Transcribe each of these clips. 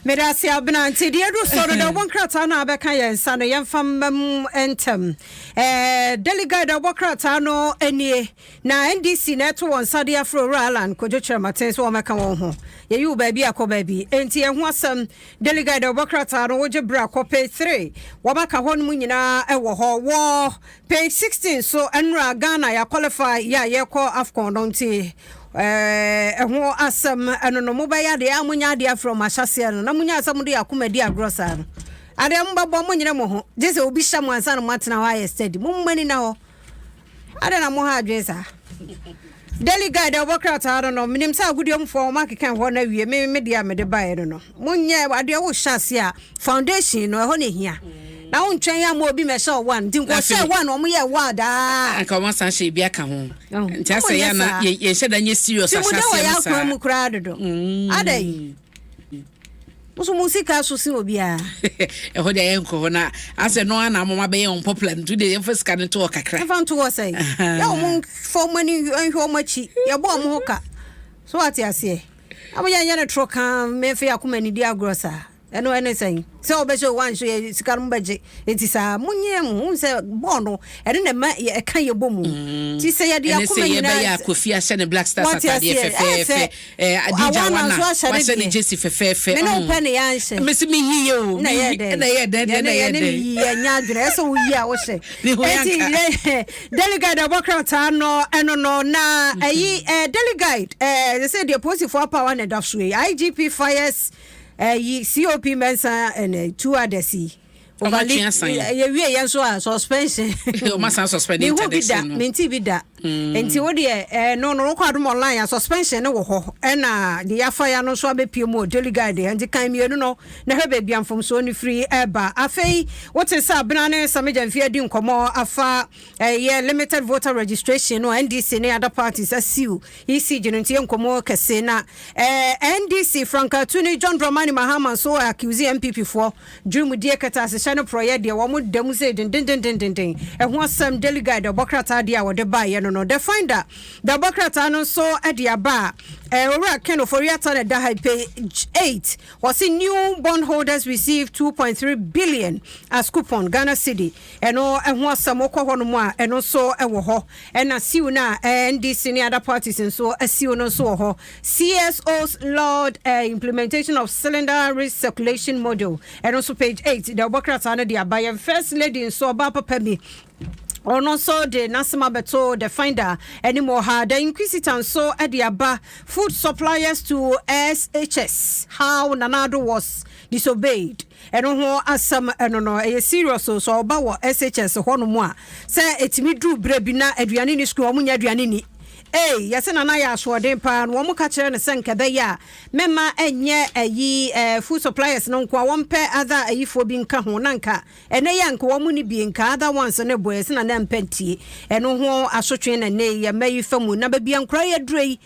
Medase abena nti deɛ ɛdu so no dɛ ɔbɔ nkrataa no a bɛka yɛn nsa no yɛmfa mma mu ntɛm ɛɛ delegate dɛ ɔbɔ krataa no nie na ndc na ɛto wɔn nsa de afro wura alan kodwo kyerɛmaten so wɔmɛka wɔn ho yɛyi wo baabi akɔ baabi nti ɛho asɛm delegate dɛ ɔbɔ krataa no wogye bra kɔ page three wɔmɛka hɔ no mu nyinaa ɛwɔ hɔ wɔ Page sixteen so nnura Ghana yɛ qualify yɛ a yɛkɔ afcon no nti ɛɛ ɛho asɛm ɛno no mobɛyɛ adeɛ a monya adeɛ afiri ɔmo ahyɛseɛ no na monya asɛm mo de akoma di agorɔ saa no adeɛ mobɛbɔ mo nyere mo ho gye sɛ obi hyɛ mo ansa na moatena hɔ ayɛ steady mo mma ni na hɔ adeɛ na mo ha adwene saa Daily Guide a wɔbɔ krataa no no, menim sɛ agodiemufoɔ a wɔakeka ɛhɔ no awie, me me deɛ a mede baeɛ no no, monyɛ adeɛ wohyɛ aseɛ a, foundation no, ɛhɔ na ɛhia. Na wontwɛn amma obi mmɛhyɛ wo one, nti nka Na afei- wɔhyɛɛ one, wɔyɛɛ one daa. anka wɔn asan hyɛ ebi aka ho Ɛho. nti asɛ Wɔnyɛ yɛ na saa. yɛ- yɛnhyɛ da nyɛ serious Tirimude wɔ ahyɛaseɛ yɛn no akwan saa mu koraa dodo. Adɛn? Woso mo sika so se obiara. Ɛhɔ de ayɛ nkɔ hɔ na asɛ no ana amama bɛyɛ wɔn popular nti de yɛmfa sika no to hɔ kakra. Yɛmfa nto hɔ sɛn? Yɛ wɔn fa wɔn ani nhwɛ wɔn akyi. Yɛbɔ wɔn ho ka. So ate aseɛ? Ama yɛnyɛ no toro kan mefe akoma nidi agorɔ saa. Ɛno ɛne sɛn? Sɛ wobɛhyɛ o woanhyɛ yɛ sika no mobɛgye nti saa monyɛ ho wohu sɛ bɔɔl no ɛno na ɛma ɛka yɛbɔ mu mm. nti sɛ yɛde akoma nyinaa ɛnɛ sɛ yɛbɛyɛ akɔfi ahyɛ ne black stars atadeɛ fɛfɛɛfɛ adija wana wahyɛ ne jesi fɛfɛɛfɛ mene wopɛ ne yɛanhyɛ mesi meyi yɛ o na yɛ dɛ na yɛ dɛ na yɛ dɛ yɛnyɛ adwene ɛsɛ woyi a wohyɛ ɛti delegate ɛbɔ krataa no ɛno no na ɛyi delegate ɛsɛ sɛ deɛ polisifoɔ apawa na ɛda so yi igp fires Ɛyi COP mɛnsa ɛnɛ two others yi. Overly yɛ wie yɛn so a suspension. Ɔma san suspend internet no. Mihu bi da minti bi da. Hmm. Nti wo deɛ ɛɛ no no wokɔ adum online a suspension no wɔ hɔ ɛna de yafa ya no nso abɛpie mu o daily guide yɛ nti kan mmienu no na hwɛ baabi amfomsoɔ no firi ɛɛba. Afei wote sɛ abena ne samigya mfie adi nkɔmɔ afa ɛyɛ limited voter registration no NDC ne other parties asiw. ECG no nti yɛ nkɔmmɔ kɛse na eh, NDC frankatu ne John Dramani Mahama nso accuse NPP foɔ dwurimudie kɛtɛasehyɛ ne porɔyɛ deɛ wɔn da mu sei dendendendenden ɛho asɛm Daily Guide ɛbɔ krataa deɛ a wɔde baeɛ no no The Finder da ɛbɔ krataa no nso de aba a eh, owura Ken Ofori-Atta na ɛda ha page 8 wɔse new bond holders receive 2.3 billion as coupon Ghana cedi Ɛno ho asɛm, wokɔ hɔnom a, ɛno nso wɔ hɔ. Ɛna siw no a NDC ne other parties nso asiw no nso wɔ hɔ. CSO's Load Implementation of Cylinder Recirculation Model, ɛno nso page eight, deɛ wɔbɔ krataa no de aba. Yɛn First Lady nso, ɔbaa papa bi, ɔno nso de n'asɛm abɛto The Finder anim wɔ ha. The Inquisitor nso de aba Food Suppliers to SHS, How Nana Addo Was Disobeyed. Ɛno ho asɛm no no ɛyɛ serious o, sɛ ɔba wɔ SHS hɔ nom a, sɛ ɛtumi duru berɛ bi na aduane nni sukuu a wɔn nnya aduane nni ei, yɛse Nana ayɛ asoɔden paa, na wɔn ka kyerɛ no sɛ nka ɛbɛyɛ a mɛma ɛnyɛ ayi eh, food suppliers no nko a wɔn pɛ other ayifoɔ bi nka ho, na nka ɛnɛ yɛ nka wɔn ni bi nka other ones ne boɛ, yɛse Nana mpɛ ntie, ɛno ho asotwe na ɛnɛ yɛ mma yi fa mu, na baabi a nkora yɛ aduro yi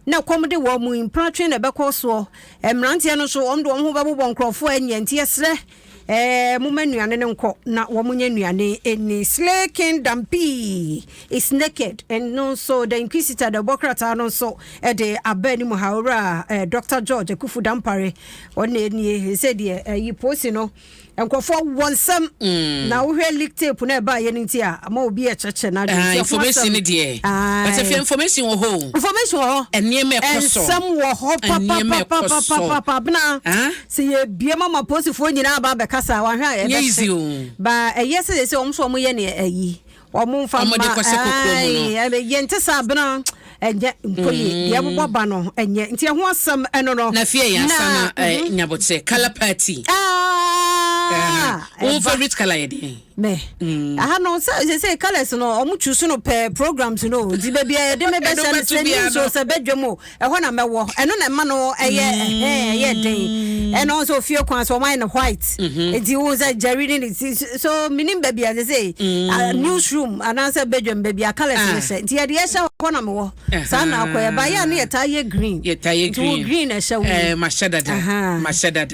Na kɔm de wɔn mu mpena twe na ɛbɛkɔ soɔ. Mmeranteɛ no nso, wɔn de wɔn ho bɛbobɔ nkurɔfoɔ a nnya nti ɛserɛ. Ɛɛ, momma nnuane no nkɔ na wɔnyɛ nnuane nni. Slay King Dampii is naked no nso, The Inquisitor de ɛbɔ krataa no nso de aba anim ha, Owura Doctor George Akufu Dampare, ɔno na ɛnie. Ɛsɛ deɛ, ayi, posi no. Nkurɔfoɔ wɔ nsɛm na wohwɛ leak tape na ɛbaeɛ no nti a ama obi ɛkyɛkyɛ n'adwene nti ɛho asɛm ae information wɔ hɔ information wɔ hɔ nneɛma ɛkɔ so nsɛm wɔ hɔ papapapapapa abena sɛ yɛbie ma ma posifoɔ nyinaa ba bɛkasa wahwɛ a ɛbɛhyɛ ba ɛyɛ sɛ sɛ wɔn so wɔn yɛ ne ayi wɔn nfa mma wɔde kɔhyɛ kɔkɔɔ mu no ɛɛ yɛn ti sɛ abena ɛnyɛ nkoye mm. deɛ ɛbobɔ ba no ɛnyɛ nti ɛho asɛm ɛno no. na fie yɛn asa na ɛɛ mhm. nyabotere kala paati. wɔn favorite kala yɛ den. mɛ mm. aha no sɛ sɛ sɛ colours no wɔn tu so no pɛ programs no nti baabi a yɛde mɛ bɛ sɛ no sɛ ne nsuo sɛ bɛ dwam o ɛhɔ na mɛwɔ ɛno na ɛma no ɛyɛ ɛhɛn ɛyɛ den mm. ɛna ɔsɛ ofie kwan so ɔman no white mhm. eti wo sɛ jerry ne ne ti so minim baabi a sɛ mm. news room anaasɛ bedwam baabi a colours ne ah. hyɛ nti yɛde ɛhyɛ hɔ na mewɔ saa na akɔ yɛ ba yɛ a ne yɛ taa yɛ green yɛ taa yɛ green nti wo green na ɛhyɛ wo ɛɛ eh, mahyɛ dada mahyɛ dada.